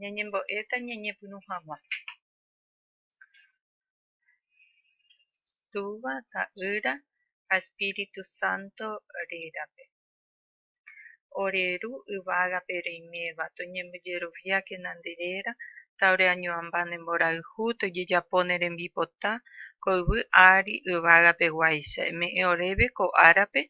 Ñañembo'éta ñañepyrũ hag̃ua. Túva, Ta'ýra ha Espíritu Santo rérape. Ore Ru yvágape reiméva, toñembojeroviákena nde réra, ta ore añoamba nde mborayhu, tojejapo ne rembipota, ko yvy ári yvágapeguáicha. Eme'ẽ oréve ko árape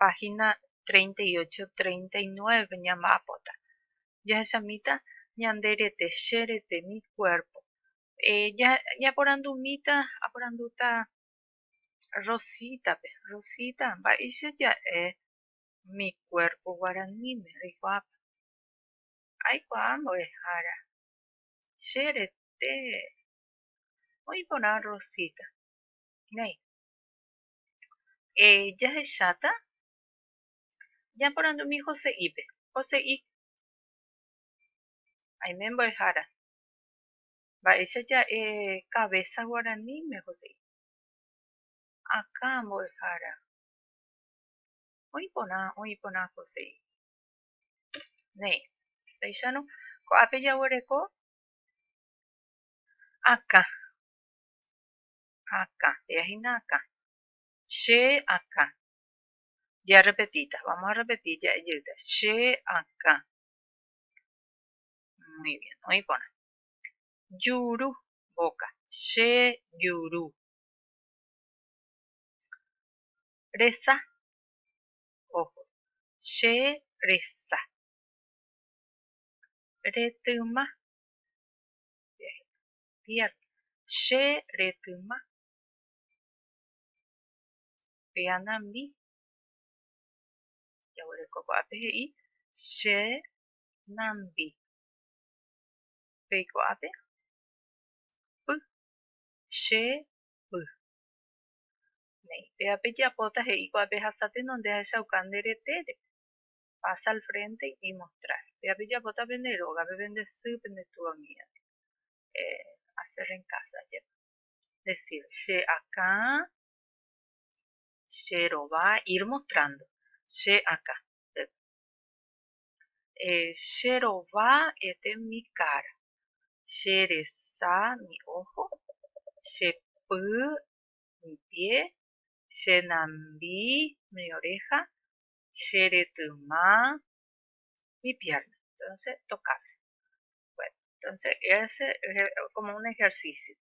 páhina 38, 39 ñamba'apóta. Jahechamíta ñande rete, che rete, mi cuerpo. Ñaporandumíta, aporandúta Rosítape, Rosíta, mba'éicha ja'e mi cuerpo guaraníme reikuaápa? Aikuaa mbo'ehára, che rete. Oĩ porã Rosíta, néi, Eh, jahecháta? Japorandumi Jose'ípe. Jose'i. Aime mbo'ehára. Mba'éicha ja'e cabeza guaraníme, Jose'i. Akã mbo'ehára. Oĩ porã, oĩ porã, Jose'i. Néi. Péicharõ, ko'ápe jaguereko akã. ha akã, he'a hína akã, che akã. Jearrepetíta, vamos a repetir ja'e jeýta, che akã. Muy bien, oĩ porã. Juru, boca, che juru. Resa, ojo, che resa. Retyma, manantiál, che retyma, pe anambi, jaguereko ko'ápe he'i che nambi, peiko'ápe py, che py. Néi, péva pejapóta he'i ko'ápe hasáteno nde ahechauka nde retére, pasa al frente y mostrar péape japóta pende róga pe vendesy pende túva amiga hacer en casa jepa decir che akã che rova ir mostrando che akã che rova este mi cara che resa mi ojo che py mi pie che nambi mi oreja che retyma mi pierna. Entonces, tocarse. Bueno, entonces ese es como un ejercicio.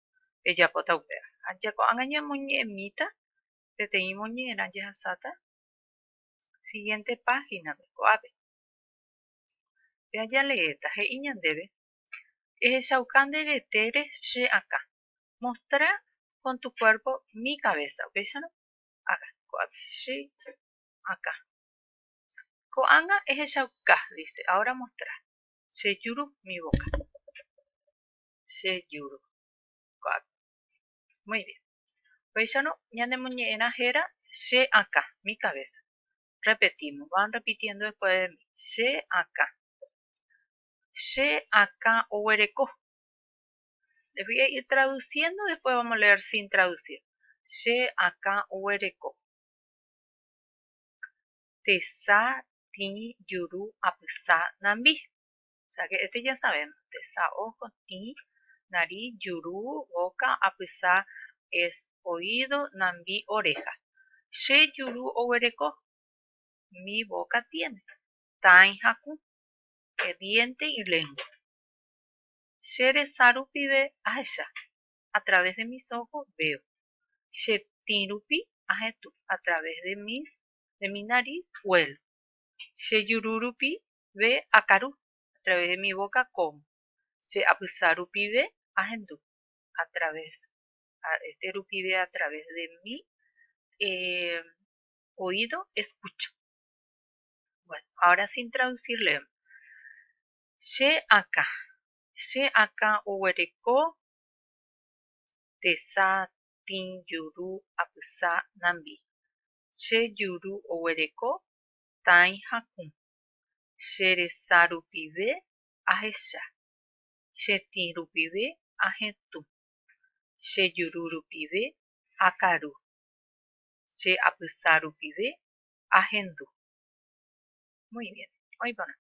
Ejapota upea. Aja ko'anga ñamoñe'ẽmíta peteĩ moñe'ẽrã jahasáta siguiente página ko'ápe. Pea jaleéta he'i ñandéve ehechauka nde retére che akã. Mostra con tu cuerpo mi cabeza. Upéicharõ, haga ko'ápe. Che akã. Ko'ág̃a ehechauka, dice, ahora mostra. Che juru mi boca. Che juru. Ko'ág̃a. Muy bien. Upéicharõ ñanemoñe'ẽrã héra che akã, mi cabeza. Repetimos, van repitiendo después de mí. Che akã. Che akã oguereko. Les voy a ir traduciendo, después vamos a leer sin traducir. Che akã oguereko. Tesa tĩ juru apysa nambi. O sea que este ya sabemos. Tesa ojo, tĩ, nariz, juru, boca, apysa es oído, nambi, oreja. Che juru oguereko. Mi boca tiene. Tãi ha kũ. Diente y lengua. Che resa rupive ahecha. a través de mis ojos veo, che tĩ rupi ahetũ, a través de mis, de mi nariz huelo, che juru rupi ve akaru, a través de mi boca como, che apysa rupive ahendu, a través, a, este rupive a través de mi eh, oído escucho. Bueno, ahora sin traducir leemos. Che akã, Che akã oguereko tesa tĩ juru apysa nambi. Che juru oguereko tãi hakũ. Che resa rupive ahecha. Che tĩ rupive ahetũ. Che juru rupive akaru. Che apysa rupive ahendu. Muy bien. Oĩ porã.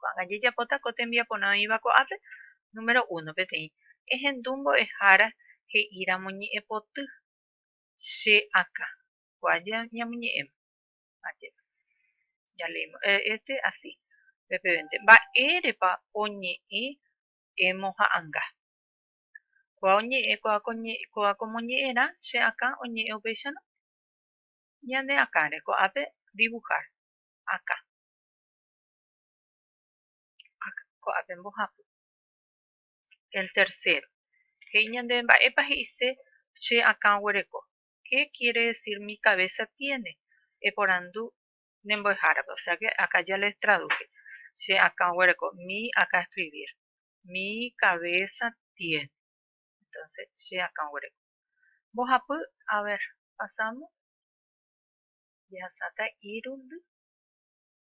Ko'ág̃a jajapóta ko tembiaporã oĩva ko'ápe, número uno, peteĩ ehendu mbo'ehára he'íramo ñe'ẽpoty che akã, ko'a ñamoñe'ẽma, ajépa, jaleímo este así, pepevénte, mba'érepa oñe'ẽ emoha'anga. Ko'a oñe'ẽ, ko'a ko moñe'ẽrã che akã oñe'ẽ upéicharõ ñane akãre, ko'ápe dibuhar, akã. ko'ápe mbohapy. El tercero. He'i ñande mba'épa he'ise che akã oguereko. Qué quiere decir mi cabeza tiene? Eporandu ne mbo'ehárape. O sea que acá ya les traduje. Che akã oguereko. Mi acá escribir. Mi cabeza tiene. Entonces, che akã oguereko. Mbohapy, a ver, pasamos. Jehasáta irundy.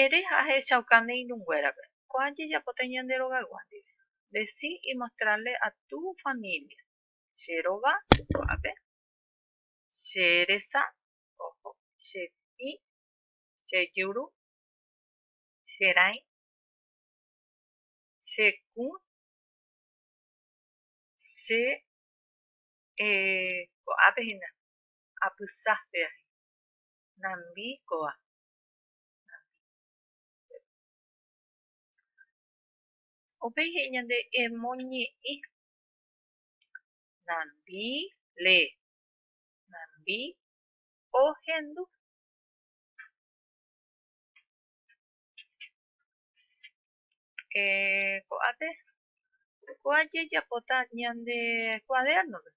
Ere ha ahechauka ne irũnguérape, ko'ã jejapóta ñande rogaygua ndive. Deci imostrarle a tu familia. Che rova, ko'ápe. Che resa, ojo. Che tĩ, che juru, che rãi, che kũ, che e. Ko'ápe hína, apysa pe ahy. Nambi kóva. Upéi he'i ñande emoñe'ẽ nambi, lee, nambi ohendu. Eh, ko'ápe kua jejapóta ñande kuadernope,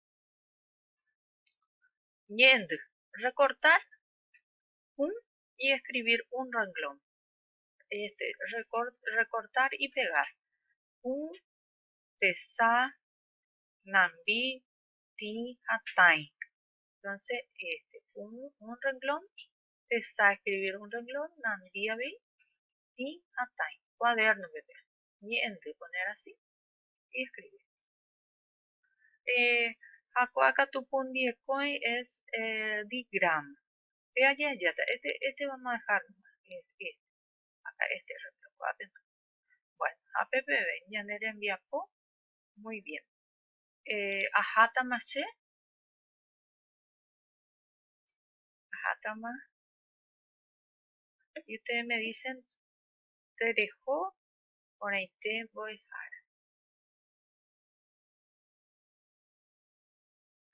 ñe'ẽndy, recortar un y escribir un renglón. Este, record, recortar y pegar. Un, tesa, nambi, ti, ha tai. Entonces, este, un, un renglón, tesa, escribir un renglón, nambi, abi, ti, ha tai. Cuaderno, bebé. Ñe'ende, poner así y escribir. Eh, ha ko'akatu pundiekõi es eh, digrama. Pe aje ajeáta este, este vamos a dejarlo este, akã este rreplokuaápema. Bueno, ha pe peve ñane rembiapo, muy bien. Ahátama che, ahátama, y ustedes me dicen tereho porãite mbo'ehára.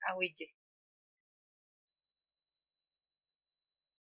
aguyje.